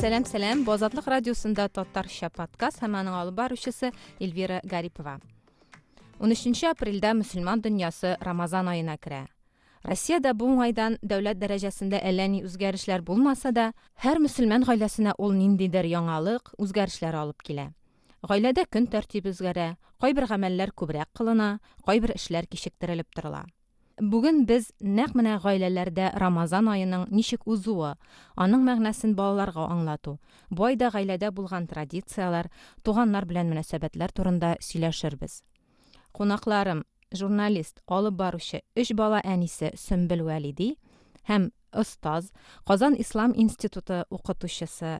Сәлам, сәлам. Бу Азатлык радиосында татарча подкаст һәм аның алып баручысы Эльвира Гарипова. 13 апрельдә мөселман дөньясы Рамазан аена керә. Россиядә бу уңайдан дәүләт дәрәҗәсендә әллә ни үзгәрешләр булмаса да, һәр мөселман гаиләсенә ул ниндидер яңалык, үзгәрешләр алып килә. Гаиләдә көн тәртибе үзгәрә, кайбер гамәлләр күбрәк кылына, кайбер эшләр кичектерелеп торыла. Бүген без нәкъ менә гаиләләрдә Рамазан аеның ничек узуы, аның мәгънәсен балаларга аңлату, бу айда гаиләдә булган традицияләр, туганнар белән мөнәсәбәтләр турында сөйләшербез. Кунакларым, журналист, алып баручы, өч бала әнисе Сөмбел Вәлиди һәм остаз, Казан ислам институты укытучысы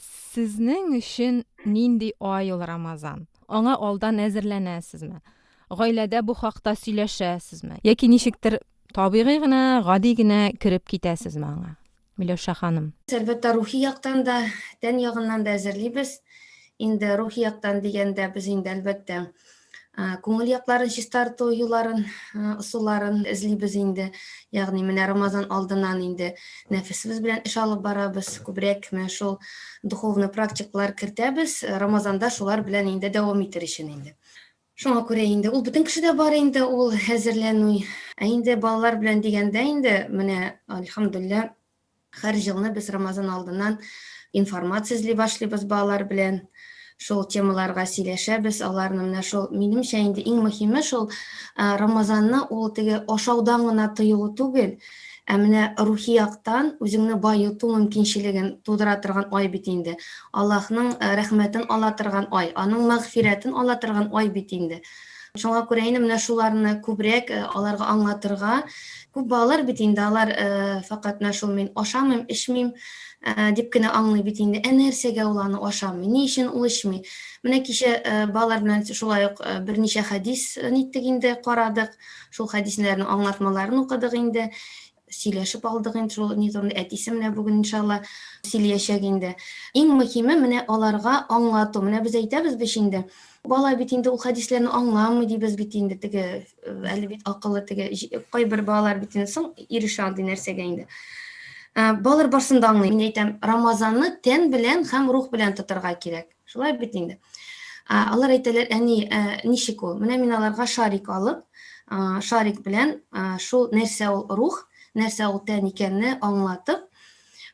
Сезнең өчен нинди ай ул Рамазан? Аңа алдан әзерләнәсезме? Гаиләдә бу хакта сөйләшәсезме? Яки ничектер табигый гына, гади генә кереп китәсезме аңа? Миләүшә ханым. Әлбәттә, рухи яктан да, тән ягыннан да әзерлибез. Инде рухи яктан дигәндә, без инде, әлбәттә, Күңел якларын чистарту юлларын, ысулларын эзлибез инде. Ягъни менә Рамазан алдыннан инде нәфесебез белән эш алып барабыз. Күбрәк менә шул духовный практиклар кертәбез. Рамазанда шулар белән инде дәвам итер өчен инде. Шуңа күрә инде ул бөтен кешедә бар инде ул әзерләнү. Ә инде балалар белән дигәндә инде менә альхамдулилла Хәр җылны без Рамазан алдыннан информация эзли башлыйбыз балалар белән. Шул темаларга сөйләшәбез, аларны менә шул минемчә инде иң мөһиме шул Рамазанны ул теге ашаудан гына тыю түгел, ә менә рухи яктан үзеңне баету мөмкинчелеген тудыра торган ай бит инде. Аллаһның рәхмәтен ала торган ай, аның мәгъфирәтен ала торган ай бит инде. Шуңа күрә инде менә шуларны күбрәк э, аларга аңлатырга. Күп балалар бит инде алар э, факат менә шул мин ашамыйм, эчмим э, дип кенә аңлый бит инде. Ә нәрсәгә ул аны ашамый? Ни өчен ул эчми? Менә кичә балалар белән шулай ук берничә хәдис ниттек инде карадык. Шул хәдисләрнең аңлатмаларын укыдык инде. сөйләшеп алдык инде шул ни турында әтисе менә бүген иншалла сөйләячәк инде иң мөһиме менә аларга аңлату менә без әйтәбез бит инде бала бит инде ул хәдисләрне аңламый дибез бит инде теге әле бит акылы теге кайбер балалар бит инде соң ирешә андый нәрсәгә инде балалар барсын да аңлый мин әйтәм рамазанны тән белән һәм рух белән тотарга кирәк Шулай бит инде. Алар әйтәләр, әни, ничек ул? Менә мин аларга шарик алып, шарик белән шул нәрсә ул рух, нәрсә ул тән икәнне аңлатып,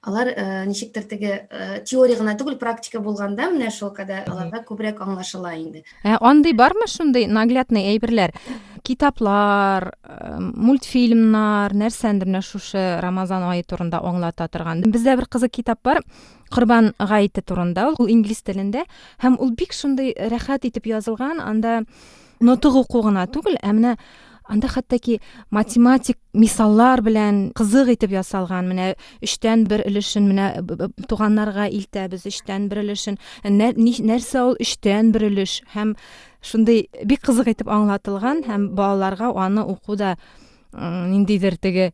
алар ничектер теге теория гына түгел, практика булганда менә шул кадә аларга күбрәк аңлашыла инде. Ә андый бармы шундый наглядный әйберләр? Китаплар, мультфильмнар, нәрсәндер менә шушы Рамазан ае турында аңлата торган. Бездә бер кызык китап бар. Корбан гаете турында ул инглиз телендә һәм ул бик шундый рәхәт итеп язылган, анда нотык уку гына түгел, ә менә анда хәтта математик мисаллар белән кызык итеп ясалган. Менә өчтән бер өлешен менә туганнарга илтәбез, өчтән бер өлешен. Нәрсә ул өчтән бер өлеш һәм шундый бик кызык итеп аңлатылган һәм балаларга аны уку да ниндидер теге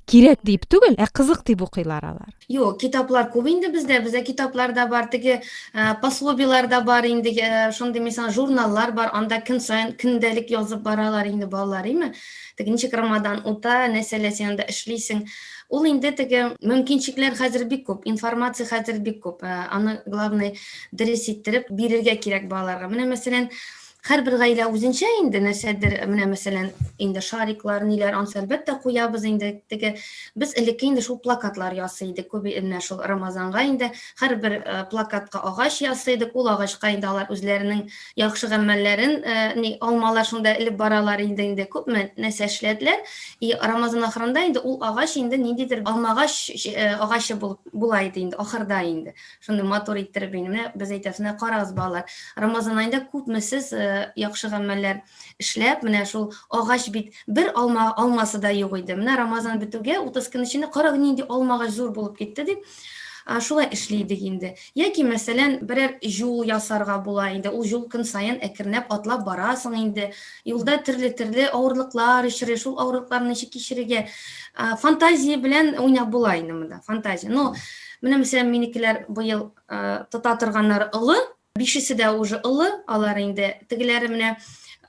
кирәк дип түгел, ә кызык дип укыйлар алар. Юк, китаплар күп инде бездә. Бездә китаплар да бар, теге э, пособиелар да бар инде, э, шундый мисал журналлар бар, анда көн саен көндәлек язып баралар инде балалар, име? Теге ничек Рамадан ута, нәрсәләр син анда эшлисең. Ул инде теге мөмкинчекләр хәзер бик күп, информация хәзер бик күп. Э, аны главный дөрес иттереп бирергә кирәк балаларга. Менә мәсәлән, Һәрбер гаилә үзенчә инде нәрсәдер, менә мәсәлән, инде шариклар, ниләр, ансы әлбәттә куябыз инде. Теге без элекке инде шул плакатлар ясый идек, күп менә шул Рамазанга инде һәрбер э, плакатка агач ясый идек. Ул агачка инде алар үзләренең яхшы гамәлләрен, э, ни алмалар шунда элеп баралар инде инде күп нәрсә эшләделәр. И Рамазан ахырында инде ул агач инде ниндидер алмагач э, агачы булып була иде инде ахырда инде. Шундый матур иттереп инде. Менә без әйтәбез, менә карагыз, балалар, Рамазан аенда күпме сез яхшы гамәлләр эшләп, менә шул агач бит бер алма алмасы да юк иде. Менә Рамазан бетүгә 30 көн эчендә карагыз нинди алма агач зур булып китте дип шулай эшли идек инде. Яки, мәсәлән, берәр җул ясарга була инде. Ул җул көн саен әкренләп атлап барасың инде. Юлда төрле-төрле авырлыклар очрый, шул авырлыкларны ничек кичерергә? Фантазия белән уйнап була инде монда, фантазия. Но менә мәсәлән, минекеләр быел тота торганнар олы, бишесе дә уже олы, алар инде тегеләре менә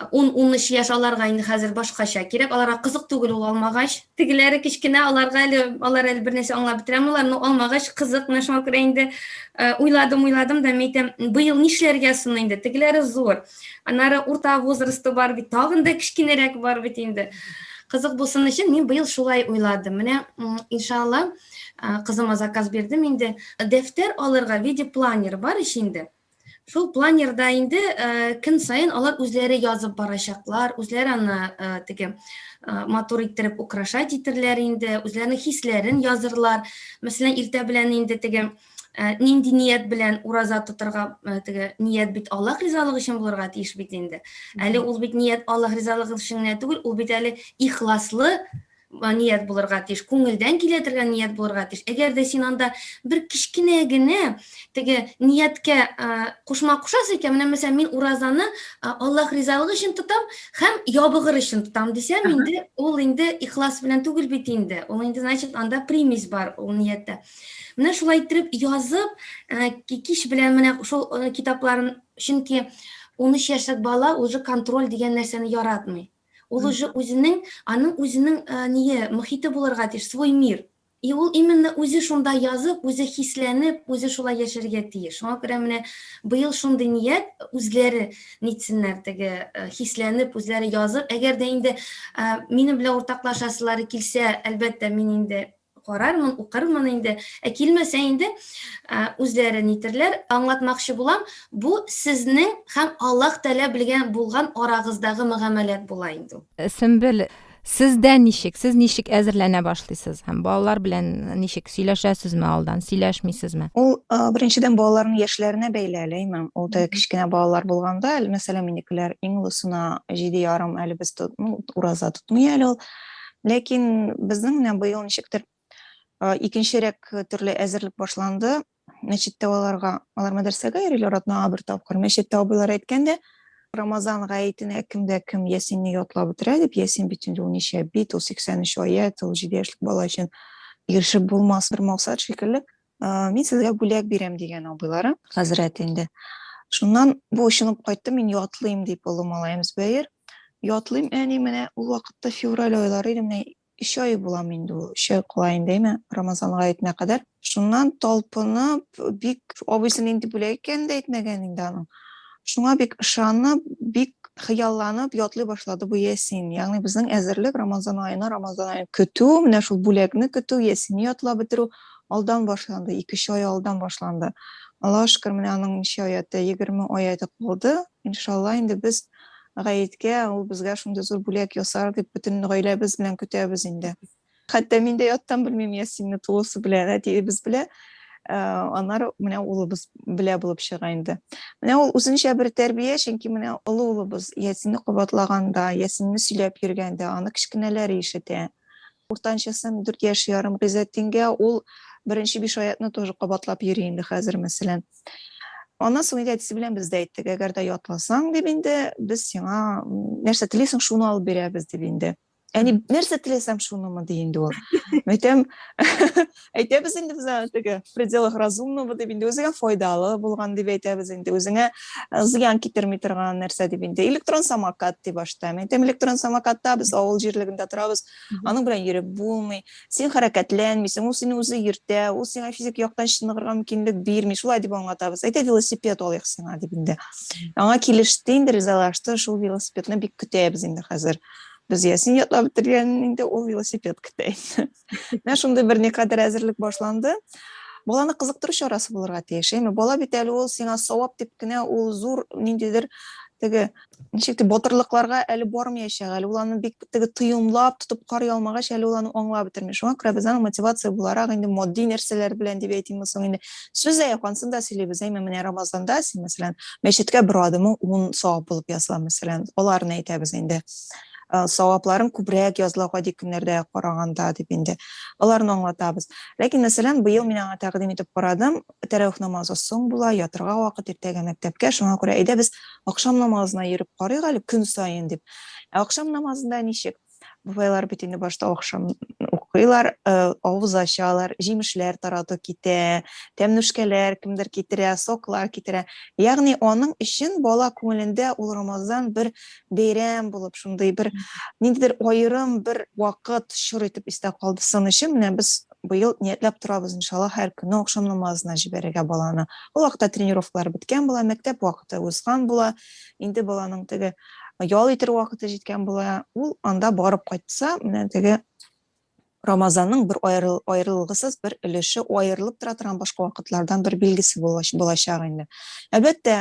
10-13 яшь аларга инде хәзер башкача кирәк, аларга кызык түгел ул алмагач. Тегеләре кечкенә, аларга әле алар әле бернәрсә аңлап бетерә алмыйлар, но алмагач кызык, менә шуңа күрә инде уйладым, уйладым да, мин әйтәм, быел нишләргә соң инде, тегеләре зур. Аннары урта возрасты бар бит, тагын да кечкенәрәк бар бит инде. Кызык булсын өчен мин быел шулай уйладым. Менә иншалла кызыма заказ бирдем инде. Дәфтәр алырга виде планер бар ич инде. Шул планерда инде э, көн сайын алар үзләре язып барачаклар, үзләре аны э, теге э, матур иттереп украшать итерләр инде, үзләренең хисләрен язырлар. Мәсәлән, иртә белән инде теге Ә, нинди ният белән ураза тотырга ә, теге ният бит аллаһ ризалыгы өчен булырга тиеш бит инде әле ул бит ният аллаһ ризалыгы өчен генә түгел ул бит әле ихласлы ә, ният булырга тиеш күңелдән килә торган ният булырга тиеш әгәр дә син анда бер кечкенә генә теге нияткә кушма кушасың икән менә мәсәлән мин уразаны аллаһ ризалыгы өчен тотам һәм ябыгыр өчен тотам дисәм инде ул инде ихлас белән түгел бит инде ул инде значит анда примесь бар ул нияттә Менә шулай иттереп язып, э, кич белән менә шул э, китапларын, чөнки 13 яшьлек бала уже контроль дигән нәрсәне яратмый. Ул уже үзенең, аның үзенең э, ние, мөхите булырга тиеш, свой мир. И ул именно үзе шунда язып, үзе хисләнеп, үзе шулай яшәргә тиеш. Шуңа күрә менә быел шундый ният үзләре нитсеннәр теге э, хисләнеп, үзләре язып. Әгәр дә инде э, минем белән уртаклашасылары килсә, әлбәттә, мин инде карармын, укырмын инде, ә килмәсә инде үзләре нитерләр, аңлатмакчы булам, бу сезнең һәм Аллаһ Тәгалә белгән булган арагыздагы мөгамәләт була инде ул. Сөмбел, сездә ничек, сез ничек әзерләнә башлыйсыз һәм балалар белән ничек сөйләшәсезме алдан, сөйләшмисезме? Ул беренчедән балаларның яшьләренә бәйле әле, имам. Ул да кечкенә балалар булганда, мәсәлән, минекеләр иң олысына җиде ярым әле без тот, ну, ураза тотмый әле ул. Ләкин безнең менә быел ничектер икенчерәк төрле әзерлек башланды. Мәчеттә аларга, алар мәдрәсәгә йөриләр атнага бер тапкыр. Мәчеттә абыйлар әйткәндә, Рамазан гаетенә кемдә кем Ясинне ятлап бетерә дип, Ясин бит инде ул ничә бит, ул 83 аять, ул 7 яшьлек бала өчен ирешеп булмас бер максат шикелле. Мин сезгә бүләк бирәм дигән абыйлары, хәзрәт инде. Шуннан бу очынып кайтты, мин ятлыйм дип олы малаем Зөбәер. Ятлыйм, әни, менә ул вакытта февраль айлары иде, менә өч ай буламы инде ул, өч ай кала инде, әйме, Рамазан гаетенә кадәр. Шуннан талпынып, бик абыйсы нинди бүләк икәнен дә әйтмәгән инде аның. Шуңа бик ышанып, бик хыялланып ятлый башлады бу ясин. Ягъни безнең әзерлек Рамазан аена, Рамазан аен көтү, менә шул бүләкне көтү, ясинне ятлап бетерү, алдан башланды, икече ай алдан башланды. Аллаһыга шөкер, менә аның ничә аяты, егерме аяты калды. Иншалла, инде без гаеткә ул безгә шундый зур бүләк ясар дип, бөтен гаиләбез белән көтәбез инде. Хәтта мин дә яттан белмим Ясинне тулысы белән, әтиебез белә, э, аннары менә улыбыз белә булып чыга инде. Менә ул үзенчә бер тәрбия, чөнки менә олы улыбыз Ясинне кабатлаганда, Ясинне сөйләп йөргәндә, аны кечкенәләре ишетә. Уртанчысын дүрт яшь ярым Гыйззәтдингә ул беренче биш аятны тоже кабатлап йөри инде хәзер, мәсәлән. Аннан соң инде әтисе белән без дә әйттек, әгәр дә ятласаң, дип инде, без сиңа нәрсә телисең, шуны алып бирәбез, дип инде. Әни, нәрсә теләсәм, шунымы, ди инде ул. Мәйтәм, әйтәбез инде без теге в пределах разумного дип инде үзеңә файдалы булган дип әйтәбез инде үзеңә зыян китерми торган нәрсә дип инде электрон самокат дип башта мин әйтәм электрон самокатта без авыл җирлегендә торабыз аның белән йөреп булмый син хәрәкәтләнмисең ул сине үзе йөртә ул сиңа физик яктан чыныгырга мөмкинлек бирми шулай дип аңлатабыз әйтә велосипед алыйк сиңа дип инде аңа килеште инде ризалашты шул велосипедны бик көтәбез инде хәзер без ясин ятлап бетергән инде ул велосипед көтә инде Менә шундый бер никадәр әзерлек башланды. Баланы кызыктыру чарасы булырга тиеш, әйме? Бала бит әле ул сиңа савап дип кенә ул зур ниндидер теге ничек дип батырлыкларга әле бармыячак, әле ул аны бик теге тоемлап тотып карый алмагач, әле ул аны аңлап бетерми. Шуңа күрә без аны мотивация буларак инде матди нәрсәләр белән дип әйтимме соң инде сүз аяк ансын да сөйлибез, әйме? Менә Рамазанда син мәсәлән мәчеткә бер адымың 10 савап булып языла мәсәлән, аларны әйтәбез инде. Э, савапларын күбрәк языла гади көннәрдә караганда дип инде аларны аңлатабыз ләкин мәсәлән быел мин аңа тәкъдим итеп карадым тәравих намазы соң була ятырга вакыт иртәгә мәктәпкә шуңа күрә әйдә без акшам намазына йөреп карыйк әле көн саен дип ә акшам намазында ничек бабайлар бит инде башта акшам укыйлар э, авыз ачалар җимешләр тарату китә тәмнүшкәләр кемдер китерә соклар китерә ягъни аның өчен бала күңелендә ул рамазан бер бәйрәм булып шундый бер ниндидер аерым бер вакыт чор итеп истә калды сын өчен менә без быел ниятләп торабыз иншалла һәр көнне акшам намазына җибәрергә баланы ул вакытта тренировкалар беткән була мәктәп вакыты узган була инде баланың теге ял итер вакыты җиткән була ул анда барып кайтса менә теге рамазанның бер аерыл, аерылгысыз бер өлеше аерылып тора торган башка вакытлардан бер билгесе булачак инде әлбәттә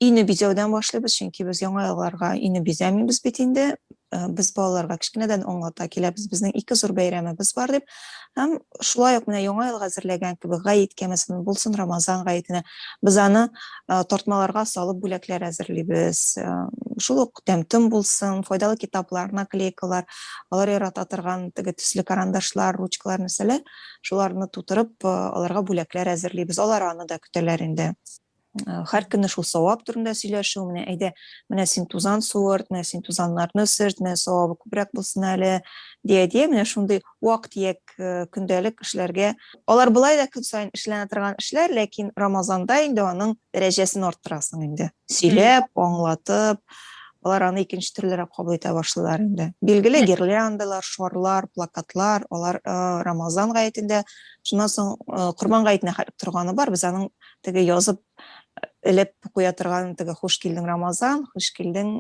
Өйне бизәүдән башлыйбыз, чөнки без яңа елларга өйне бизәмибез бит инде. Э, без балаларга кечкенәдән аңлата киләбез, безнең ике зур бәйрәмебез бар дип. Һәм шулай ук менә яңа елга әзерләгән кебек гаит кәмәсен булсын Рамазан гаетенә без аны э, тартмаларга салып бүләкләр әзерлибез. Э, шул ук тәмтем булсын, файдалы китаплар, наклейкалар, алар ярата торган теге төсле карандашлар, ручкалар нәрсәләр, шуларны тутырып аларга бүләкләр әзерлибез. Алар аны да көтәләр инде. Э, һәр көнне шул савап турында сөйләшү менә әйдә менә син тузан суырт менә син тузаннарны сөрт менә савабы күбрәк булсын әле дия дия менә шундый вак тияк э, көндәлек эшләргә алар болай да көн саен эшләнә торган эшләр ләкин рамазанда инде аның дәрәҗәсен арттырасың инде сөйләп аңлатып алар аны икенче төрлерәк кабул итә башлыйлар инде билгеле гирляндалар шарлар плакатлар алар э, рамазан гаетендә шуннан соң корбан гаетенә торганы бар без аның теге язып элеп куя торган теге хуш килдең рамазан хуш килдең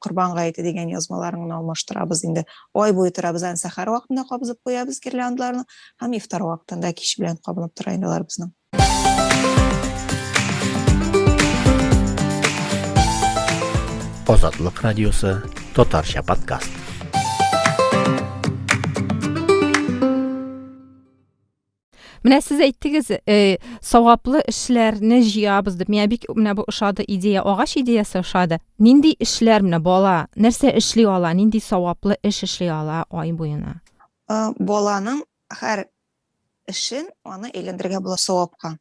корбан гаете дигән язмаларын гына алмаштырабыз инде ай буе торабыз аны сәхәр вакытында кабызып куябыз гирляндаларны һәм ифтар вакытында кич белән кабынып тора инде алар безнең Азатлык радиосы татарча подкаст Менә сез әйттегез, э, саваплы эшләрне җыябыз дип. Миңа бик менә бу ошады идея, агач идеясе ошады. Нинди эшләр менә бала нәрсә эшли ала, нинди саваплы эш эшли ала ай буена? Э, баланың һәр эшен аны әйләндерергә була савапка.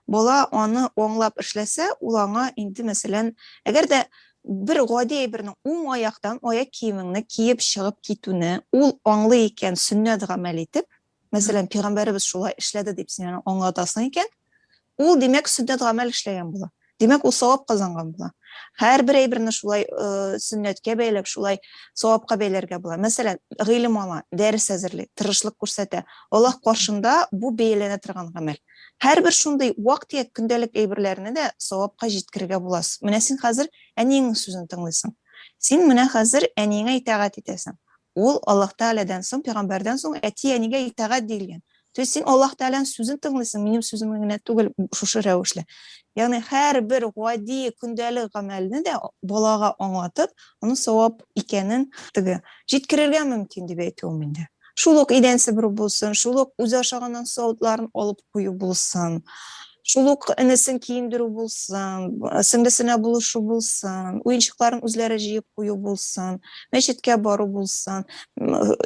Бала аны аңлап эшләсә, ул аңа инде мәсәлән, әгәр дә бер гади әйберне уң аяктан аяк киемеңне киеп чыгып китүне ул аңлый икән, сөннәт гамәл итеп, Мәсәлән, пигамбәребез шулай эшләде дип син аны аңлатасың икән, ул димәк сөннәт гамәл эшләгән була. Димәк, ул савап казанган була. Һәрбер әйберне шулай э, сөннәткә бәйләп, шулай савапка бәйләргә була. Мәсәлән, гыйлем ала, дәрес әзерли, тырышлык күрсәтә. Аллаһ каршында бу бәяләнә торган гамәл. Һәрбер шундый вак-төяк көндәлек әйберләрне дә савапка җиткерергә буласыз. Менә син хәзер әниеңнең сүзен тыңлыйсың. Син менә хәзер әниеңә итагать итәсең. Ул Аллаһ Тәгаләдән соң, пәйгамбәрдән соң әти-әнигә итагать диелгән. То есть син Аллаһ Тәгаләнең сүзен тыңлыйсың, минем сүземне генә түгел, шушы рәвешле. Ягъни һәрбер гади көндәлек гамәлне дә балага аңлатып, аның савап икәнен теге җиткерергә мөмкин дип әйтүем инде. Шул ук идән себерү булсын, шул ук үзе ашаганнан савытларын алып кую булсын, шул ук энесен киендерү булсын, сеңлесенә булышу булсын, уенчыкларын үзләре җыеп кую булсын, мәчеткә бару булсын,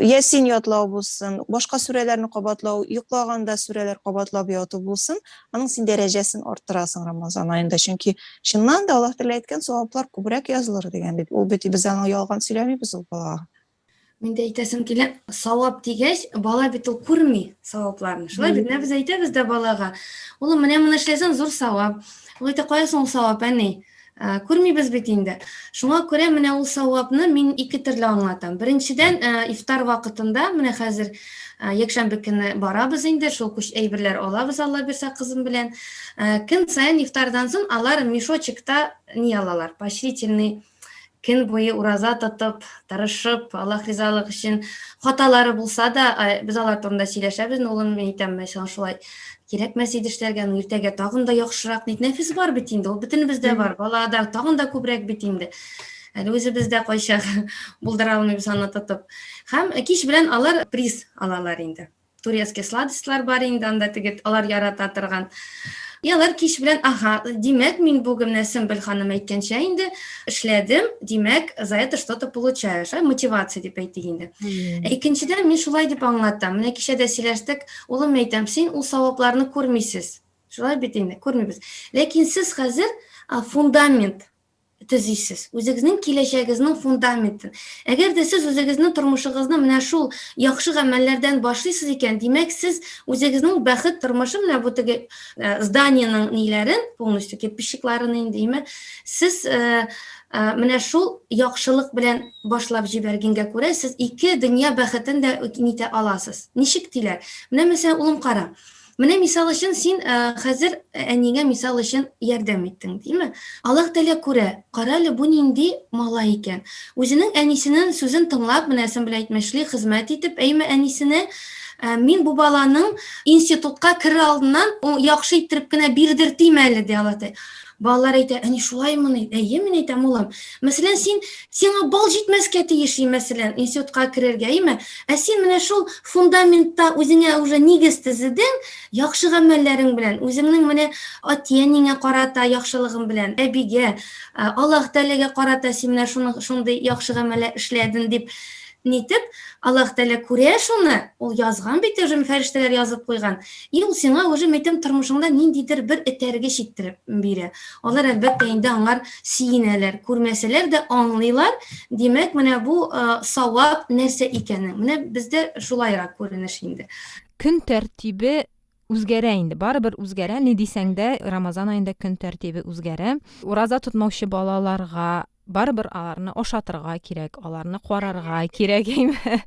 ясин ятлау булсын, башка сүрәләрне кабатлау, йоклаганда сүрәләр кабатлап яту булсын, аның син дәрәҗәсен арттырасың Рамазан аенда, чөнки чыннан да Аллаһ Тәгалә әйткән саваплар күбрәк язылыр дигән бит. Ул бит без аны ялган сөйләмибез ул балага. Мин дә әйтәсем килә, савап дигәч, бала бит ул күрми савапларны. Шулай бит, без әйтәбез дә балага, улым, менә моны эшләсәң зур савап. Ул әйтә, кая соң ул савап, әни? Ә, күрмибез бит инде. Шуңа күрә менә ул савапны мин ике төрле аңлатам. Беренчедән, ә, ифтар вакытында, менә хәзер ә, якшәмбе көне барабыз инде, шул күч әйберләр алабыз Алла бирсә кызым белән. Ә, көн саен ифтардан соң алар мешочекта ни алалар, поощрительный көн буе ураза тотып, тырышып, Аллаһ ризалык өчен хаталары булса да, без алар турында сөйләшәбез, улым, мин әйтәм, мәшәллә, шулай кирәкмәс иде эшләргә, ну иртәгә тагын да яхшырак ник нәфис бар бит инде, ул бөтенебездә бар, балада тагын да күбрәк бит инде. Әле үзебез дә кайчак булдыра алмыйбыз аны тотып. Һәм кич белән алар приз алалар инде. турецкий сладостьлар бар инде анда теге алар ярата торган и алар кич белән ага димәк мин бүген менә сөмбел ханым әйткәнчә инде эшләдем димәк за это что то получаешь ә мотивация дип әйтик инде ә икенчедән мин шулай дип аңлатам менә кичә дә сөйләштек улым әйтәм син ул савапларны күрмисез шулай бит инде күрмибез ләкин сез хәзер фундамент төзисез. Үзегезнең киләчәгезнең фундаментын. Әгәр дә сез үзегезнең тормышыгызны менә шул яхшы гамәлләрдән башлыйсыз икән, димәк, сез үзегезнең бәхет тормышы менә бу теге э, зданиенең ниләрен, полностью кирпичикларын индеме, сез э, э, менә шул яхшылык белән башлап җибәргәнгә күрә, сез ике дөнья бәхетен дә нитә аласыз. Ничек диләр? Менә мәсәлән, улым кара. Менә мисал өчен син хәзер әнигә мисал өчен ярдәм иттең, димме? Аллаһ Тәгалә күрә, кара әле бу нинди малай икән. Үзенең әнисенең сүзен тыңлап, менә син белән әйтмешли хезмәт итеп, әйме әнисенә, мин бу баланың институтка керер алдыннан яхшы иттереп кенә бирдертим әле, ди Аллаһ Тәгалә. Балалар әйтә, әни шулаймыни? Әйе, мин әйтәм, улым. Мәсәлән, син сиңа бал җитмәскә тиеш, мәсәлән, институтка керергә, әйеме? Ә син менә шул фундаментта үзеңә уже нигез тезедең, яхшы гамәлләрең белән, үзеңнең менә әти-әниңә карата яхшылыгың белән, әбигә, Аллаһ Тәгаләгә карата син менә шуның шундый яхшы гамәлләр эшләдең дип Нитеп? Аллаһ Тәгалә күрә шуны, ул язган бит уже, фәрештәләр язып куйган. И ул сиңа уже мәйтәм тормышыңда ниндидер бер этәргеч иттереп бирә. Алар әлбәттә инде аңар сөенәләр, күрмәсәләр дә аңлыйлар. Димәк, менә бу савап нәрсә икәнен. Менә бездә шулайрак күренеш инде. Көн тәртибе үзгәрә инде барыбер үзгәрә ни дисәң дә рамазан аенда көн тәртибе үзгәрә ураза тотмаучы балаларга барыбер аларны ашатырга кирәк, аларны карарга кирәк, әйме?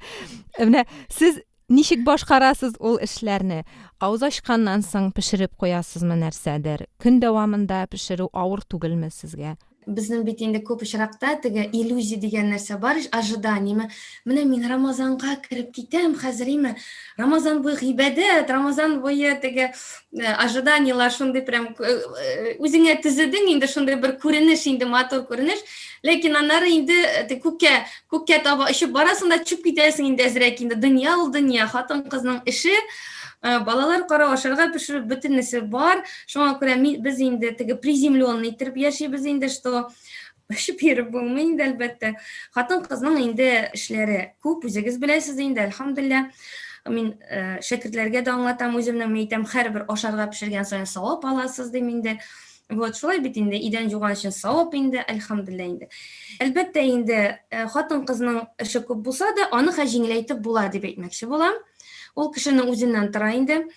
Менә сез ничек башкарасыз ул эшләрне? Авыз ачканнан соң пешереп куясызмы нәрсәдер? Көн дәвамында пешерү авыр түгелме сезгә? Безнең бит инде күп очракта теге иллюзия дигән нәрсә бар, ожиданиеме. Менә мин Рамазанга кереп китәм, хәзер име Рамазан буе гыйбадәт, Рамазан буе теге Э, ожиданиялар шундый прям э, э, үзеңә төзедең инде шундый бер күренеш инде матур күренеш ләкин аннары инде күккә күккә таба очып барасың да төшеп китәсең инде әзрәк инде дөнья ул дөнья хатын кызның эше балалар карау ашарга пешерү бөтенесе бар шуңа күрә без инде теге приземленный итеп яшибез инде что Эше биреп булмый инде, әлбәттә. Хатын-кызның инде эшләре күп, үзегез беләсез инде, әлхәмдулилла. Мин э, шәкертләргә дә аңлатам, үземнең әйтәм, һәрбер ашарга пешергән саен савап аласыз дим инде. Вот, шулай бит инде, идән юган өчен савап инде, әлхәмдулилла инде. Әлбәттә инде, э, хатын-кызның эше күп булса да, аны хә җиңеләйтеп була дип әйтмәкче булам. Ул кешенең үзеннән тора инде. Э,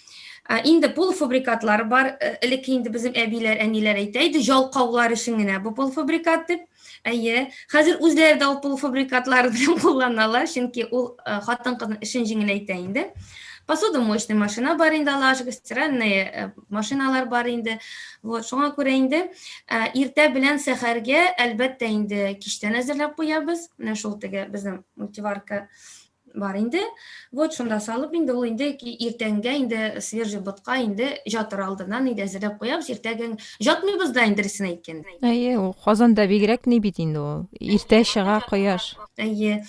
Ә, Инде полуфабрикатлар бар, э, элекке инде безнең әбиләр, әниләр әйтә иде, җалкаулар өчен генә бу полуфабрикат дип. Әйе, хәзер үзләре дә ул полуфабрикатлар белән кулланалар, чөнки ул э, хатын-кызның эшен җиңеләйтә инде. Посудомоечный машина бар инде, Аллага шөкер, стиральный э, машиналар бар инде. Вот, шуңа күрә инде э, иртә белән сәхәргә, әлбәттә, инде кичтән әзерләп куябыз. Менә шул теге безнең мультиварка бар инде. Вот шунда салып инде ул инде иртәнгә инде свежий ботка инде жатыр алдыннан инде әзерләп куябыз. Иртәгә жатмыйбыз да инде рисен әйткәндә. Әйе, ул Казанда бигрәк ни бит инде ул. Иртә чыга кояш. Әйе.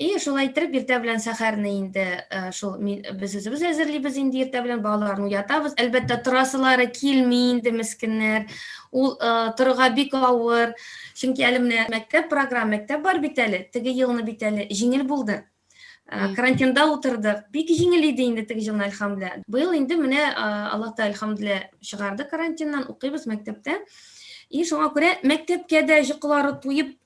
И шулай итеп иртә белән сәхәрне инде э, шул без үзебез әзерлибез инде иртә белән балаларны уятабыз. Әлбәттә торасылары килми инде мескеннәр. Ул э, торырга бик авыр. Чөнки әле менә мәктәп программа, мәктәп бар бит әле, теге елны бит әле җиңел булды. Э, карантинда утырдык. Бик җиңел иде инде теге елны, әлхәмдүлилла. Быел инде менә э, Аллаһта әлхәмдүлилла чыгарды карантиннан, укыйбыз мәктәптә. И шуңа күрә мәктәпкә дә җоклары туеп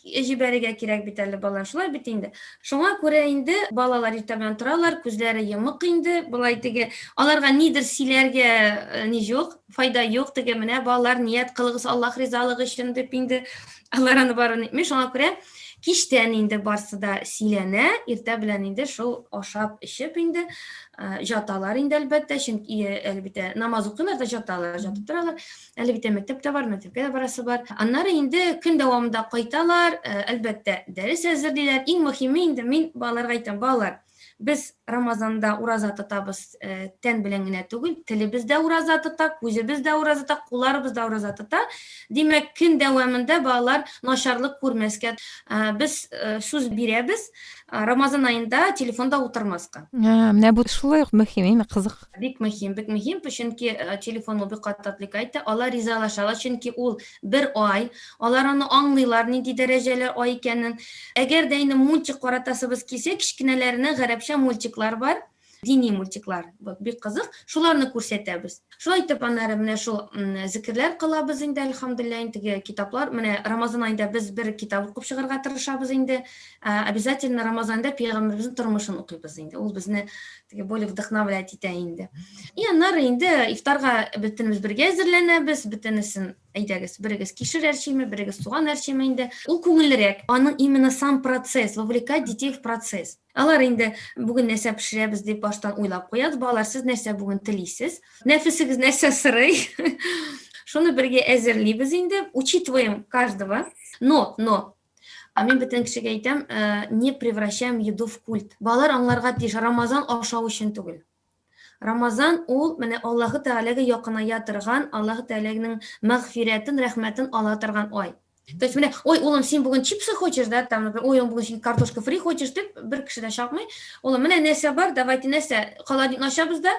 җибәрергә кирәк бит әле балалар. Шулай бит инде. Шуңа күрә инде балалар иртә белән торалар, күзләре йомык инде. Болай теге аларга нидер сөйләргә э, ни юк, файда юк теге менә балалар ният кылыгыз аллах ризалыгы өчен дип инде алар аны барын әйтми шуңа күрә кичтән инде барсы да сөйләнә иртә белән инде шул ашап эчеп инде жаталар инде әлбәттә чөнки әлбәттә намаз укыйлар да жаталар жатып торалар әлбәттә мәктәп тә бар мәктәпкә дә барасы бар аннары инде көн дәвамында кайталар әлбәттә дәрес әзерлиләр иң мөһиме инде мин балаларга әйтәм балалар Без Рамазанда ураза тотабыз, э, тән белән генә түгел, телебез дә ураза тота, күзебез дә ураза тота, кулларыбыз да ураза тота. Димәк, көн дәвамында балалар начарлык күрмәскә. Э, без э, сүз бирәбез, Рамазан аенда телефонда утырмаска. Менә бу шулай ук мөһим, име кызык. Бик мөһим, бик мөһим, чөнки телефон ул бик каты отвлекать, алар ризалашалар, чөнки ул Бер ай. Алар аны аңлыйлар, нинди дәрәҗәле ай икәнен. Әгәр дә инде мультик каратасыбыз килсә, кечкенәләренә гарәпчә мультиклар бар, дини мультиклар, бик кызык, шуларны күрсәтәбез. Шулай итеп, аннары менә шул зекерләр кылабыз инде, әлхәмдулләһ, теге китаплар, менә Рамазан аенда без бер китап укып чыгарга тырышабыз инде, обязательно Рамазанда пәйгамбәребезнең тормышын укыйбыз инде, ул безне теге более вдохновлять итә инде и аннары инде ифтарга бөтенебез бергә әзерләнәбез бөтенесен әйдәгез берегез кишер әрчиме берегез суган әрчиме инде ул күңеллерәк аның именно сам процесс вовлекать детей в процесс алар инде бүген нәрсә пешерәбез дип баштан уйлап куябыз балалар сез нәрсә бүген телисез нәфесегез нәрсә сорый шуны бергә әзерлибез инде учитываем каждого но но А мин бөтен кешегә әйтәм, э, не превращаем еду в культ. Балалар аңларга тиеш, Рамазан ашау өчен түгел. Рамазан ул менә Аллаһы Тәгаләгә якыная торган, Аллаһы Тәгаләнең мәгъфирәтен, рәхмәтен ала торган ай. То есть менә, ой, улым, син бүген чипсы хочешь, да, там, например, ой, бүген син картошка фри хочешь, дип бер кеше дә чакмый. Улым, менә нәрсә бар, давайте нәрсә, холодник ачабыз да,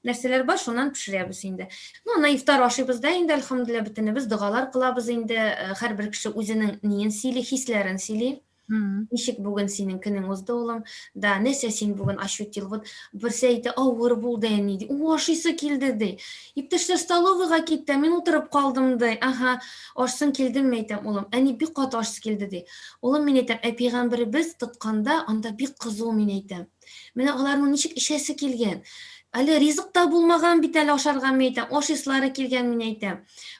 нәрсәләр бар шуннан пешерәбез инде ну ана ифтар ашыйбыз да инде әлхәмдулилля бөтенебез догалар кылабыз инде һәрбер кеше үзенең ниен сөйли хисләрен сөйли ничек бүген синең көнең узды улым да нәрсә син бүген ощутил вот берсе әйтә авыр булды әни ди у ашыйсы килде ди иптәшләр столовыйга китте мин утырып калдым ди ага ашсың килдеңме әйтәм улым әни бик каты ашсы килде ди улым мин әйтәм ә пәйгамбәребез тотканда анда бик кызу мин әйтәм Менә аларның ничек эчәсе килгән. Әле ризык та булмаган бит әле ашарга мин әйтәм, аш ислары килгән мин әйтәм.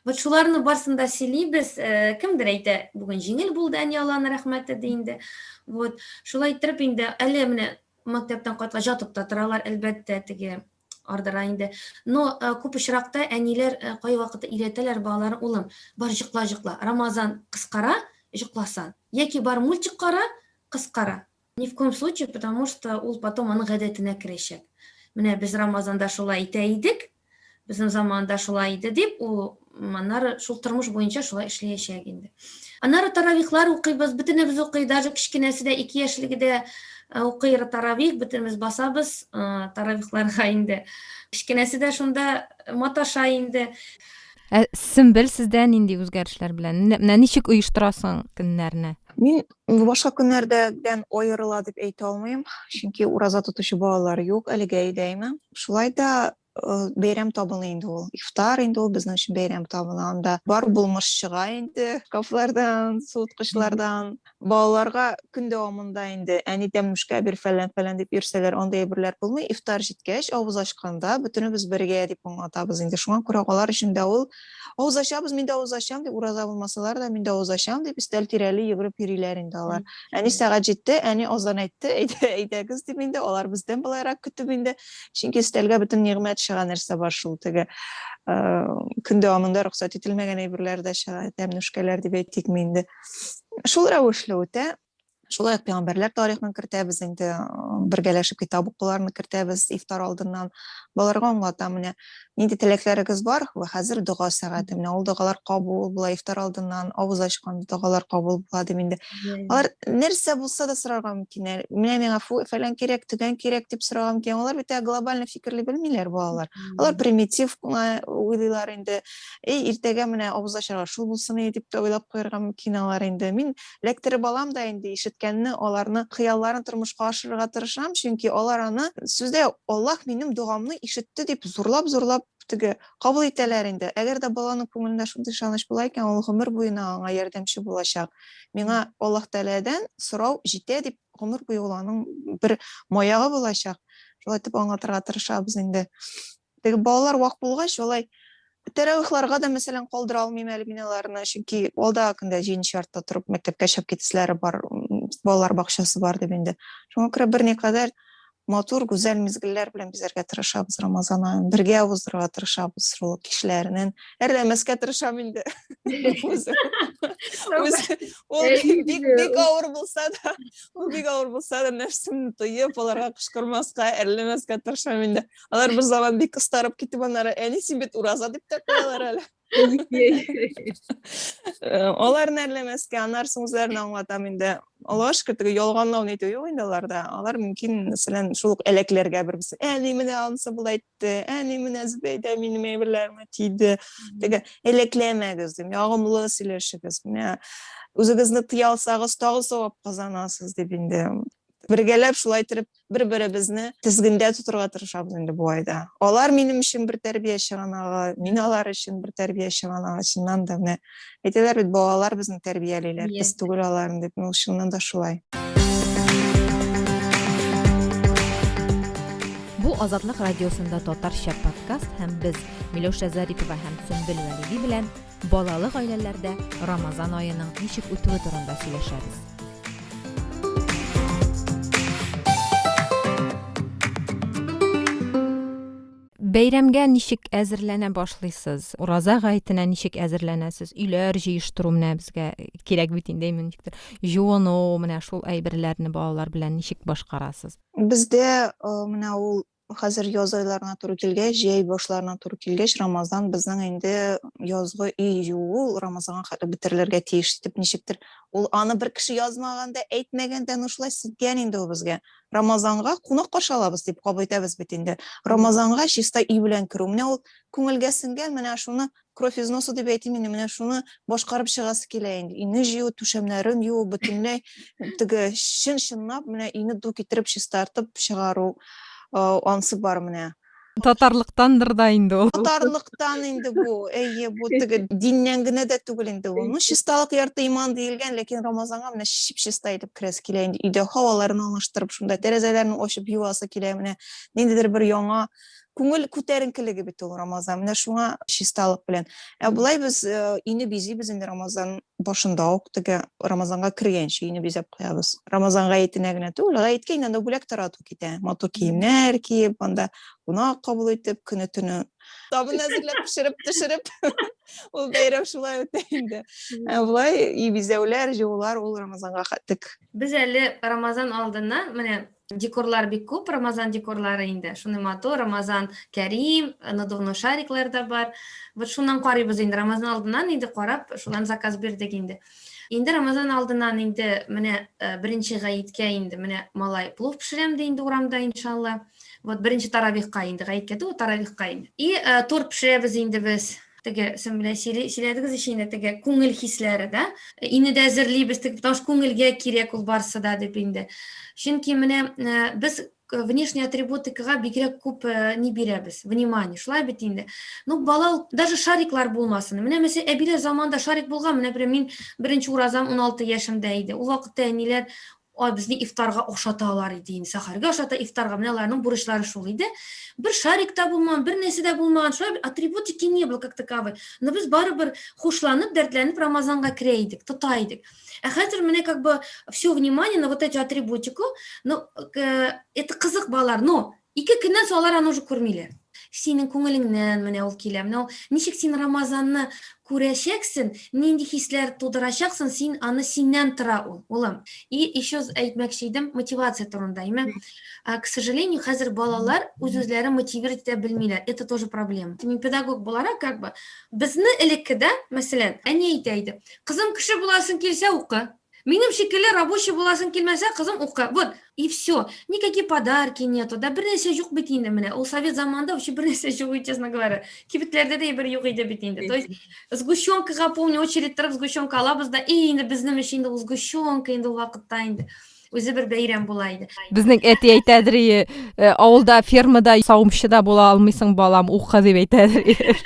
Вот шуларны барсын да сөйлибез. Э, кемдер әйтә, бүген җиңел булды әни Алланы рәхмәте ди инде. Вот шулай иттереп инде әле менә мәктәптән кайтка жатып та торалар, әлбәттә, теге ардыра инде. Но э, күп очракта әниләр э, кай вакытта өйрәтәләр балалар, улым, бар җыкла-җыкла. Рамазан кыскара, җыкласан. Яки бар мультик кара, кыскара. Ни в коем случае, потому что ул потом аның гадәтенә керәчәк. Менә без Рамазанда шулай итә идек, безнең заманда шулай иде дип, ул аннары шул тормыш буенча шулай эшләячәк инде. Аннары таравихлар укыйбыз, бөтенебез укый, даже кечкенәсе дә, ике яшьлеге дә э, укый таравих, бөтенебез басабыз э, таравихларга инде. Кечкенәсе дә шунда маташа инде. Ә Сөмбел сездә нинди үзгәрешләр белән? Менә ничек оештырасың көннәрне? Мин Башка көннәрдән аерыла дип әйтә алмыйм, чөнки ураза тотучы балалар юк әлегә өйдәйме. Шулай да бәйрәм табыны инде ул. Ифтар инде ул безнең өчен бәйрәм табыны. Анда бар булмыш чыга инде. Кафлардан, суыткычлардан. Балаларга көн дәвамында инде әни тәмлүшкә бир фәлән-фәлән дип йөрсәләр, андый әйберләр булмый. Ифтар җиткәч, авыз ачканда бөтенебез бергә дип аңлатабыз инде. Шуңа күрә алар өчен дә ул авыз ачабыз мин дә авыз ачам дип ураза булмасалар да мин дә авыз ачам дип өстәл тирәли йөгереп йөриләр инде алар әни сәгать җитте әни азан әйтте әйдәгез дип инде алар бездән былайрак көтеп инде чөнки өстәлгә бөтен нигъмәт чыга нәрсә бар шул теге көн дәвамында рөхсәт ителмәгән әйберләр дә чыга тәмнүшкәләр дип әйтикме инде шул рәвешле үтә Шулай ук пәйгамбәрләр тарихын кертәбез инде, бергәләшеп китап укуларны кертәбез ифтар алдыннан. Балаларга аңлатам, менә нинди теләкләрегез бар, вә хәзер дога сәгате. Менә ул догалар кабул була ифтар алдыннан, авыз ачкан догалар кабул була дип инде. Алар нәрсә булса да сорарга мөмкин. Менә миңа фу, фәлән кирәк, төгән кирәк дип сорарга мөмкин. Алар бит глобаль фикерли белмиләр балалар. Алар примитив кына уйлыйлар инде. И, иртәгә менә авыз ачарга шул булсын иде дип тә уйлап куярга мөмкин алар инде. Мин Лекторы балам да инде ишеткәнне, аларны хыялларын тормышка ашырырга тырышам, чөнки алар аны сүздә Аллаһ минем догамны ишетте дип зурлап-зурлап теге кабул итәләр инде. Әгәр дә баланың күңелендә шундый ышаныч була икән, ул гомер буена аңа ярдәмче булачак. Миңа Аллаһ Тәгаләдән сорау җитә дип, гомер буе ул аның бер маягы булачак. Шулай итеп аңлатырга тырышабыз инде. Теге балалар вак булгач, алай тәрәвихларга да, мәсәлән, калдыра алмыйм әле мин аларны, чөнки алда көндә җиденче яртыда торып мәктәпкә чыгып китәселәре бар, балалар бакчасы бар дип инде. Шуңа күрә берникадәр матур, гүзәл мизгелләр белән бизәргә тырышабыз Рамазан аен. Бергә уздырырга тырышабыз шул кичләреннән. Әрләмәскә тырышам инде. Ул бик бик авыр булса да, ул бик авыр булса да, нәфсемне тыеп, аларга кычкырмаска, әрләмәскә тырышам инде. алар бер заман бик кыстарып китеп аннары әни син бит ураза дип тә куялар әле аларны әрләмәскә аннары соң үзләрен аңлатам инде аллага шөкер теге ялганлау нитү юк инде аларда алар мөмкин мәсәлән шул ук әләкләргә бер берсе әни менә анысы болай итте әни менә зөбәйдә минем әйберләремә тиде теге әләкләмәгез дим ягымлы сөйләшегез менә үзегезне тыя алсагыз тагы савап казанасыз дип инде бергәләп шулай итеп бер-беребезне тезгендә тотырга тырышабыз инде бу айда. Алар минем өчен бер тәрбия чыганагы, мин алар өчен бер тәрбия чыганагы, чыннан да менә әйтәләр бит балалар безне тәрбиялиләр, без түгел аларны дип, ну чыннан да шулай. Бу Азатлык радиосында татарча подкаст һәм без Миләүшә Зарипова һәм Сөмбел Вәлиди белән Балалы гаиләләрдә Рамазан аеның ничек үтүе турында сөйләшәбез. Бәйрәмгә ничек әзерләнә башлыйсыз? Ураза гаетенә ничек әзерләнәсез? Өйләр җыештыру менә безгә кирәк бит инде иминчектер. Җуыну, менә шул әйберләрне балалар белән ничек башкарасыз? Бездә менә ул Хәзер яз айларына туры килгәч, җәй башларына туры килгәч, Рамазан безнең инде язгы өй юу, Рамазанга хәтле бетерелергә тиеш дип ничектер. Ул аны бер кеше язмаган да, әйтмәгән дә, ну шулай ситкән инде ул безгә. Рамазанга кунак каршы алабыз дип кабул итәбез бит инде. Рамазанга чиста өй белән керү. Менә ул күңелгә сеңгән, менә шуны кровь из носа дип әйтим инде менә шуны башкарып чыгасы килә инде өйне җыю түшәмнәрен юу бөтенләй теге чын чынлап менә өйне ду китереп чистартып чыгару ансы бар менә татарлыктандыр да инде ул татарлыктан инде бу әйе бу теге диннән генә дә түгел инде ул ну чисталык ярты иман диелгән ләкин рамазанга менә чип чиста итеп керәсе килә инде өйдә һаваларын алыштырып шунда тәрәзәләрен ачып юасы килә менә ниндидер бер яңа күңел күтәренкелеге бит ул рамазан менә шуңа чисталык белән ә болай без э, өйне бизибез инде рамазан башында ук теге рамазанга кергәнче өйне бизәп куябыз рамазан гаетенә генә түгел гаеткә инде анда бүләк тарату китә матур киемнәр киеп анда кунак кабул итеп көне төне табын әзерләп пешереп төшереп ул бәйрәм шулай үтә инде ә болай өй бизәүләр җыюлар ул рамазанга тек без әле рамазан алдыннан менә Декорлар бик күп, Рамазан декорлары инде. Шуны матур, Рамазан Кәрим, надувной шариклар да бар. Вот шуннан карыйбыз инде, Рамазан алдыннан инде карап, шуннан заказ бирдек инде. Инде Рамазан алдыннан инде менә э, беренче гаеткә инде менә малай плов пешерәм ди инде урамда иншалла. Вот беренче таравихка инде гаеткә түгел, таравихка инде. И э, торт пешерәбез инде без. теге сез белән сөйләдегез ич инде теге күңел хисләре да ине дә әзерлибез теге потому что күңелгә кирәк ул барысы да дип инде чөнки менә без внешний атрибутикага бигрәк күп не бирәбез внимание шулай бит инде ну бала ул даже шариклар булмасын менә мәсәлән әбиләр заманында шарик булган менә мин беренче уразам 16 яшемдә иде ул вакытта әниләр Ай безне ифтарга ошаталар иде инде, сәхәргә ошата, ифтарга. Менә аларның бурычлары шул иде. Бер шарик та булмаган, бер нәрсә дә булмаган. Шулай атрибутики не было как таковой. Но без барыбер хушланып, дәртләнеп Рамазанга керә идек, тота идек. Ә хәзер менә как бы все внимание на вот эти атрибутику. Ну, э, это кызык балалар, но Ике көннән соң алар аны уже күрмиләр. Синең күңелеңнән менә ул килә. Менә ул ничек син Рамазанны күрәчәксең, нинди хисләр тудырачаксың, син аны синнән тора ул, улым. И еще әйтмәкче идем мотивация турында. Имә, к сожалению, хәзер балалар үз-үзләрен мотивировать итә белмиләр. Это тоже проблема. Мин педагог буларак, как бы, безне элеккедә, мәсәлән, әни әйтә иде, кызым, кеше буласың килсә, укы. Минем шикелле рабочий буласың килмәсә, кызым укы. Вот и всё. Никакие подарки нету, да бернәрсә юк бит инде менә. Ул совет заманында вообще бернәрсә юк иде, честно говоря. Кибетләрдә дә әйбер юк иде бит инде. То есть сгущёнкага помню очередь торып сгущёнка алабыз да, и инде безнең өчен инде ул сгущёнка инде ул вакытта инде үзе бер бәйрәм була иде. Безнең әти әйтәдер, э, авылда фермада савымчы да була алмыйсың, балам, укы дип әйтәдер.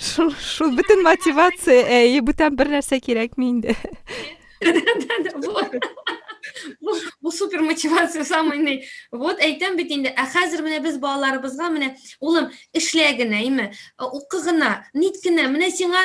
Шул, шул бөтен мотивация, әй, бүтән бер нәрсә кирәкми инде. Бу супер мотивация самый ни. Вот әйтәм бит инде, ә хәзер менә без балаларыбызга менә, улым, эшлә генә, име, укы гына, нит генә, менә сиңа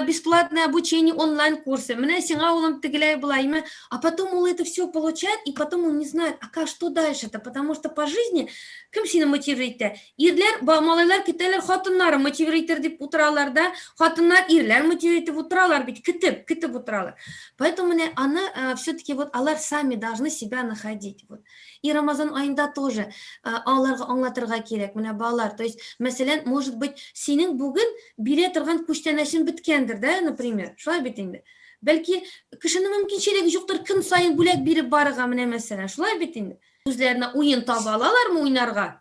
бесплатное обучение онлайн курсы, менә сиңа улым тегеләй була, име, а потом ул это все получает, и потом он не знает, а как что дальше-то, потому что по жизни кем сине мотивировать итә? Ирләр, малайлар көтәләр, хатыннары мотивер итер дип утыралар да, хатыннар ирләр мотивер итеп утыралар бит, көтеп, көтеп утыралар. Поэтому менә аны э, все-таки вот алар сами должны себя находить. Вот. И Рамазан айында тоже э, аларга аңлатырга кирәк, менә балалар. То есть, мәсәлән, может быть, синең бүген бирә торган күчтәнәшең биткәндер, да, например. Шулай бит инде. Бәлки кешенең мөмкинчелеге юктыр, көн саен бүләк биреп барырга менә мәсәлән. Шулай бит инде. Үзләренә уен таба алалармы уйнарга?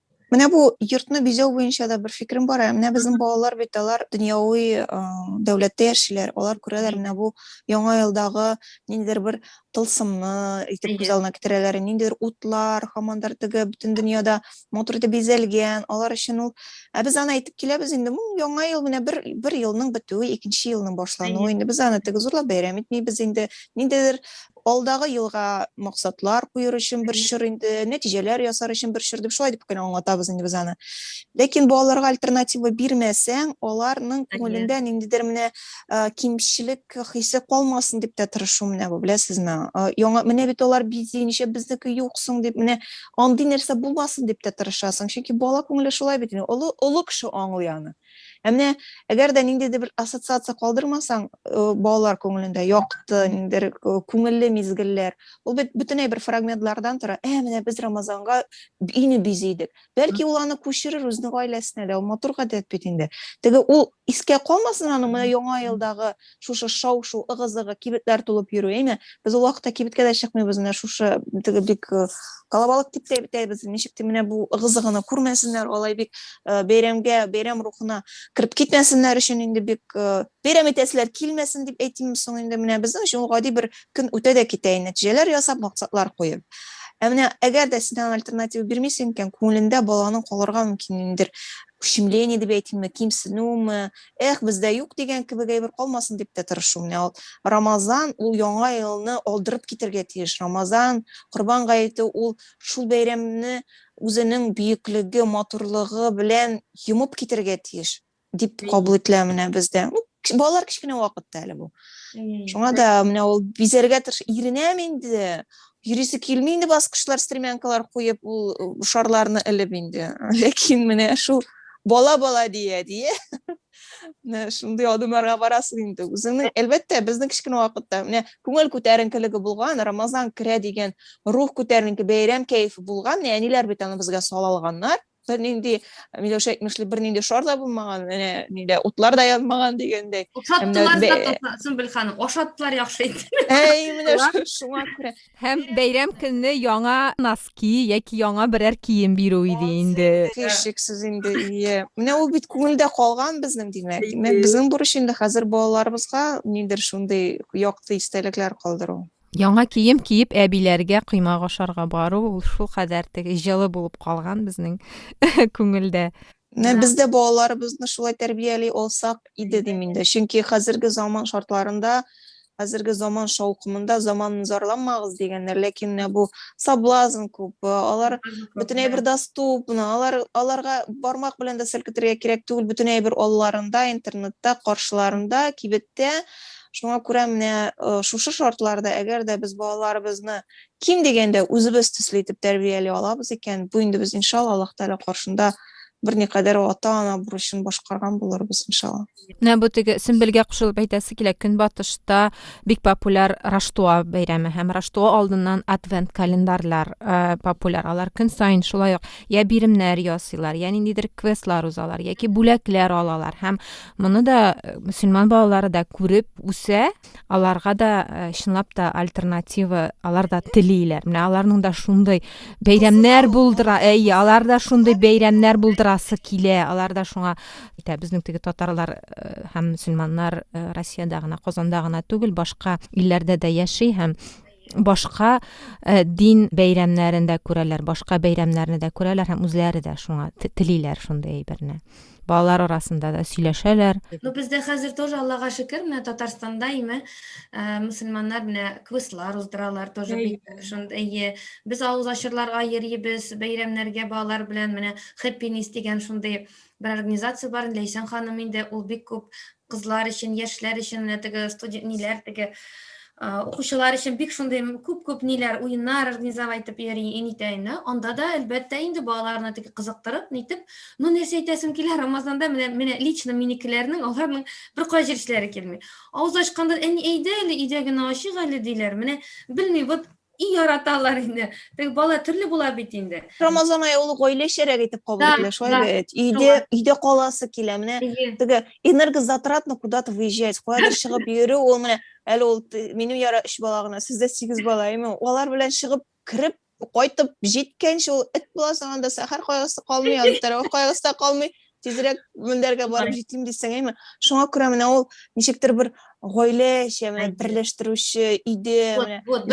Менә бу йортны бизәү буенча да бер фикерем бар. Менә безнең балалар бит алар дөньяви дәүләттә яшиләр. Алар күрәләр менә бу яңа елдагы ниндидер бер тылсымны итеп күз алдына китерәләр. Ниндидер утлар, хамандар теге бөтен дөньяда матур итеп бизәлгән. Алар өчен ул ә без аны әйтеп киләбез инде. Бу яңа ел менә бер бер елның бетүе, икенче елның башлануы. Инде без аны теге зурлап бәйрәм итмибез инде. Ниндидер Алдагы елга максатлар куер өчен бер чор инде, нәтиҗәләр ясар өчен бер чор дип шулай дип кенә аңлатабыз инде без аны. Ләкин балаларга альтернатива бирмәсәң, аларның күңелендә ниндидер менә кимчелек хисе калмасын дип тә тырышу менә бу, беләсезме? Яңа менә бит алар бизи, ничә безнеке юк соң дип менә андый нәрсә булмасын дип тә тырышасың. Чөнки бала күңеле шулай бит инде, олы, олы кеше аңлый аны. Ә менә әгәр дә ниндидер бер ассоциация калдырмасаң, балалар күңелендә якты, ниндидер күңелле мизгелләр, ул бит бөтенләй бер фрагментлардан тора. Ә менә без Рамазанга өйне бизидек. Бәлки ул аны күчерер үзенең гаиләсенә дә, ул матур гадәт бит инде. Теге ул искә калмасын аның менә яңа елдагы шушы шау-шу, ыгы-зыгы, кибетләр тулып йөрү, әйме? Без ул вакытта кибеткә дә чыкмыйбыз, менә шушы теге бик э, калабалык дип тә әйтәбез. Ничек тә менә бу ыгы-зыгыны күрмәсеннәр, алай бик э, бәйрәмгә, бәйрәм рухына кереп китмәсеннәр өчен инде бик э, бәйрәм итәселәр килмәсен дип әйтимме соң инде менә безнең өчен ул гади бер көн үтә дә китә, нәтиҗәләр ясап, максатлар куеп. Ә менә әгәр дә син альтернатива бирмисең икән, күңелендә баланың калырга мөмкинлегендер ущемление дип әйтимме кимсенүме эх бездә юк дигән кебек әйбер калмасын дип тә тырышу менә ул рамазан ул яңа елны алдырып китергә тиеш рамазан корбан гаете ул шул бәйрәмне үзенең бөеклеге матурлыгы белән йомып китергә тиеш дип кабул ителә менә бездә балалар кечкенә вакытта әле бу шуңа да менә ул бизәргә тырыш иренәм инде йөрисе килми инде баскычлар стремянкалар куеп ул шарларны элеп инде ләкин менә шул бала бала дия дия менә шундый адымнарга барасың инде үзеңнең әлбәттә безнең кечкенә вакытта менә күңел күтәренкелеге булган рамазан керә дигән рух күтәренке бәйрәм кәефе булган әниләр бит аны безгә сала алганнар бер нинди миләүшә әйтмешли бер нинди шар да булмаган менә нидә утлар да янмаган дигәндәй ашаттылар да сөмбел ханым ашаттылар яхшы итеп әй менә шуңа күрә һәм бәйрәм көнне яңа носки яки яңа берәр кием бирү иде инде һичшиксез инде ие менә ул бит күңелдә калган безнең димәк димәк безнең бурыч инде хәзер балаларыбызга нидер шундый якты истәлекләр калдыру Яңа кием киеп әбиләргә коймак ашарга бару ул шулкадәр теге җылы булып калган безнең күңелдә. Менә без дә балаларыбызны шулай тәрбияли алсак иде дим инде. Чөнки хәзерге заман шартларында, хәзерге заман шаукымында заманны зарланмагыз дигәннәр, ләкин менә бу соблазн күп. Алар бөтен әйбер доступны, алар аларга бармак белән дә селкетергә кирәк түгел, бөтен әйбер алларында, интернетта, каршыларында, кибеттә. Шуңа күрә менә э, шушы шартларда, әгәр дә без балаларыбызны ким дигәндә үзебез төсле итеп тәрбияли алабыз икән, бу инде без иншалла Аллаһ Тәгалә каршында берникадәр ата-ана бурычын башкарган булырбыз иншалла. Менә бу теге Сөмбелгә кушылып әйтәсе килә, Көнбатышта бик популяр Раштуа бәйрәме һәм Раштуа алдыннан адвент календарьлар э, популяр. Алар көн саен шулай ук я биремнәр ясыйлар, я ниндидер квестлар узалар, яки бүләкләр алалар һәм Моны да э, мөселман балалары да күреп үсә, аларга да э, чынлап та альтернатива алар да телиләр. Менә аларның да шундый бәйрәмнәр булдыра, әйе, алар да шундый бәйрәмнәр булдырасы килә. Алар да шуңа итә. Безнең теге татарлар э, һәм мөселманнар Россиядә генә, Казанда гына түгел, башка илләрдә дә яши һәм башка э, дин бәйрәмнәрен дә күрәләр, башка бәйрәмнәрне дә күрәләр һәм үзләре дә шуңа телиләр шундый әйберне. Балалар арасында да сөйләшәләр. Ну бездә хәзер тоже Аллага шөкер, менә Татарстанда име э, мусульманнар менә квестлар уздыралар тоже бик шундый. Э, без авыз ачырларга йөрибез, бәйрәмнәргә балалар белән менә Happiness дигән шундый бер организация бар, Ләйсән ханым инде ул бик күп кызлар өчен, яшьләр өчен менә теге студент ниләр теге укучылар өчен бик шундый күп-күп ниләр, уеннар организовать итеп йөри инитәйне. Анда да әлбәттә инде балаларны теге кызыктырып, нитеп, ну нәрсә әйтәсем килә, Рамазанда менә менә лично минекеләрнең аларның бер кая җирешләре килми. Авыз ачканда әни әйдә әле, өйдә генә ачык әле диләр. Менә белми, вот И яраталар инде. Теге бала төрле була бит инде. Рамазан ае ул гаилә шәрәк итеп кабул ителә, шулай бит. Өйдә, өйдә каласы килә. Менә теге энергозатратно куда-то выезжать, куяда чыгып йөрү, ул менә әле ул минем яра 3 бала гына, сездә 8 бала, әйме? Алар белән чыгып, кирип, кайтып җиткәнче ул эт була сагында сәхәр кайгысы калмый, аны тәрәвих кайгысы да калмый. тизрәк мендәргә барып җитим дисең әйме шуңа күрә менә ул ничектер бер гаилә эче менә берләштерүче иде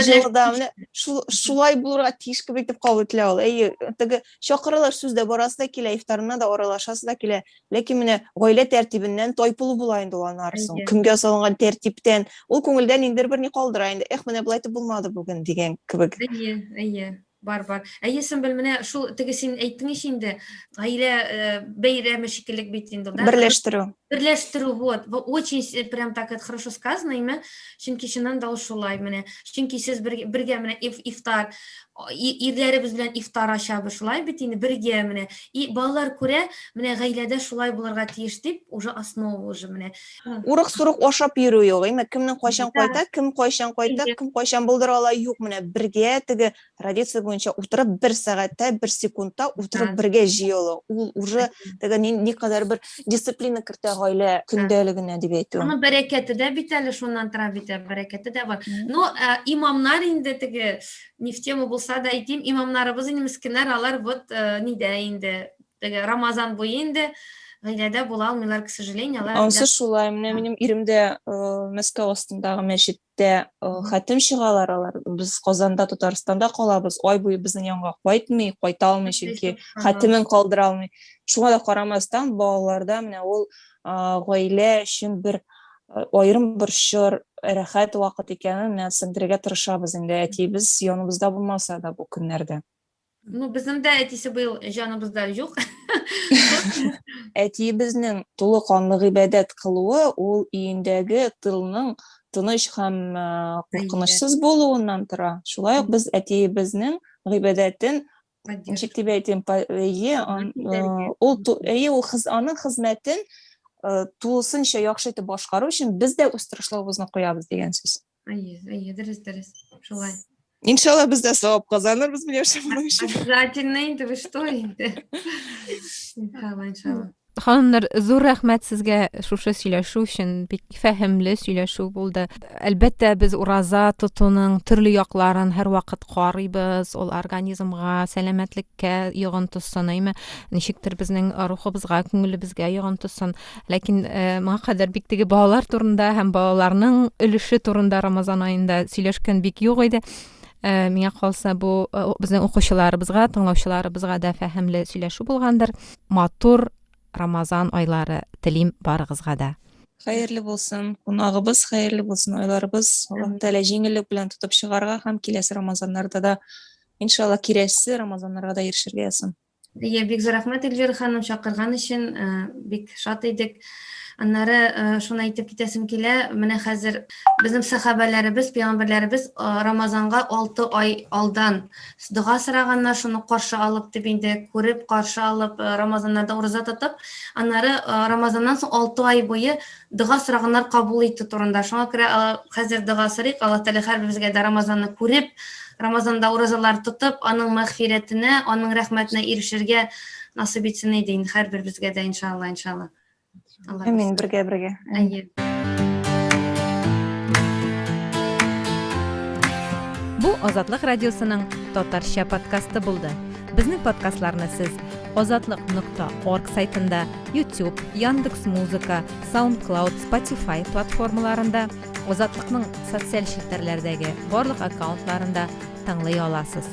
җылыда менә шулай булырга тиеш кебек итеп кабул ителә ул әйе теге чакырылыш сүз дә барасы да килә ифтарына да аралашасы да килә ләкин менә гаилә тәртибеннән тайпылу була инде ул аннары соң көнгә салынган тәртиптән ул күңелдә ниндидер бер ни калдыра инде эх менә болай итеп булмады бүген дигән кебек әйе әйе Бар, бар. Әйе, Сөмбел, менә шул теге син әйттең ич инде, гаилә э, бәйрәме шикеллек бит инде ул, да? Берләштерү. Берләштерү, вот. Бу очень с- прям так это хорошо сказано именно, чөнки чыннан да ул шулай менә. Чөнки сез бер- бергә менә иф- ифтар, о, и- ирләребез белән ифтар ачабыз, шулай бит инде, бергә менә. И балалар күрә, менә гаиләдә шулай булырга тиеш дип, уже основа уже менә. Урык сурык ашап йөрү юк. Әмма кемнең кайчан кайта, кем кайчан кайта, кем кайчан булдыра ала юк. Менә бергә теге традиция буенча утырып бер сәгатьтә, бер секундта утырып бергә җыелу. Ул уже теге никадәр бер дисциплина кертә гаилә көндәлегенә дип әйтү. Аның бәрәкәте дә бит әле шуннан тора бит, ә бәрәкәте дә бар. Ну, э, имамнар инде теге не в тему булса да әйтим, имамнарыбыз инде мескеннәр, алар вот э, нидә инде Теге Рамазан буе инде гаиләдә була алмыйлар, к сожалению. Ансы шулай. Менә минем ирем дә э, Мәскәү астындагы мәчеттә э, хәтем чыгалар алар. Без Казанда, Татарстанда калабыз. Ай буе безнең янга кайтмый, кайта алмый, чөнки хәтемен калдыра алмый. Шуңа да карамастан, балаларда менә ул гаилә өчен бер э, аерым бер чор, рәхәт вакыт икәнен менә сеңдерергә тырышабыз инде. Әтиебез яныбызда булмаса да бу көннәрдә. Ну, безнең дә әтисе быел җаныбызда юк. Әтиебезнең тулы канлы гыйбадәт кылуы ул өендәге тылның тыныч һәм куркынычсыз булуыннан тора. Шулай ук без әтиебезнең гыйбадәтен ничек дип әйтим, әйе, ул әйе, ул хыз, аның хезмәтен тулысынча яхшы итеп башкару өчен без дә үз тырышлыгыбызны куябыз дигән сүз. Әйе, әйе, дөрес, дөрес. Шулай. Иншалла без дә савап казанырбыз миләүшә моның өчен. Обязательно инде, вы что инде. Иншалла, иншалла. Ханымнар, зур рәхмәт сезгә шушы сөйләшү өчен. Бик фәһемле сөйләшү булды. Әлбәттә, без ураза тотуның төрле якларын һәрвакыт карыйбыз. Ул организмга, сәламәтлеккә йогынтысын, әйме? Ничектер безнең рухыбызга, күңелебезгә йогынтысын. Ләкин моңа кадәр бик теге балалар турында һәм балаларның өлеше турында Рамазан аенда сөйләшкән бик юк иде. Миңа калса бу безнең укучыларыбызга, тыңлаучыларыбызга да фәһемле сөйләшү булгандыр. Матур Рамазан айлары телим барыгызга да. Хәерле булсын, кунагыбыз хәерле булсын, айларыбыз Аллаһ Тәгалә җиңеллек белән тотып чыгарга һәм киләсе Рамазаннарда да иншалла киләсе Рамазаннарга да ирешергә язсын. Әйе, бик зур рәхмәт, Эльвира ханым, чакырган өчен. Бик шат идек. Аннары шуны әйтеп китәсем килә, менә хәзер безнең сахабәләребез, пәйгамбәрләребез Рамазанга 6 ай алдан дога сораганнар, шуны каршы алып дип инде күреп, каршы алып, Рамазаннарда ураза тотып, аннары Рамазаннан соң 6 ай буе дога сораганнар кабул итү турында. Шуңа күрә хәзер дога сорыйк, Аллаһ Тәгалә һәрберебезгә дә Рамазанны күреп, Рамазанда уразалар тотып, аның мәгъфирәтенә, аның рәхмәтенә ирешергә насыйп итсен иде инде һәрберебезгә дә иншалла, иншалла. Амин, бергә бергә. Әйе. Бу Азатлык радиосының татарча подкасты булды. Безнең подкастларны сез Азатлык нокта орг сайтында, YouTube, Яндекс Музыка, SoundCloud, Spotify платформаларында, Азатлыкның социаль челтәрләрдәге барлык аккаунтларында тыңлый аласыз.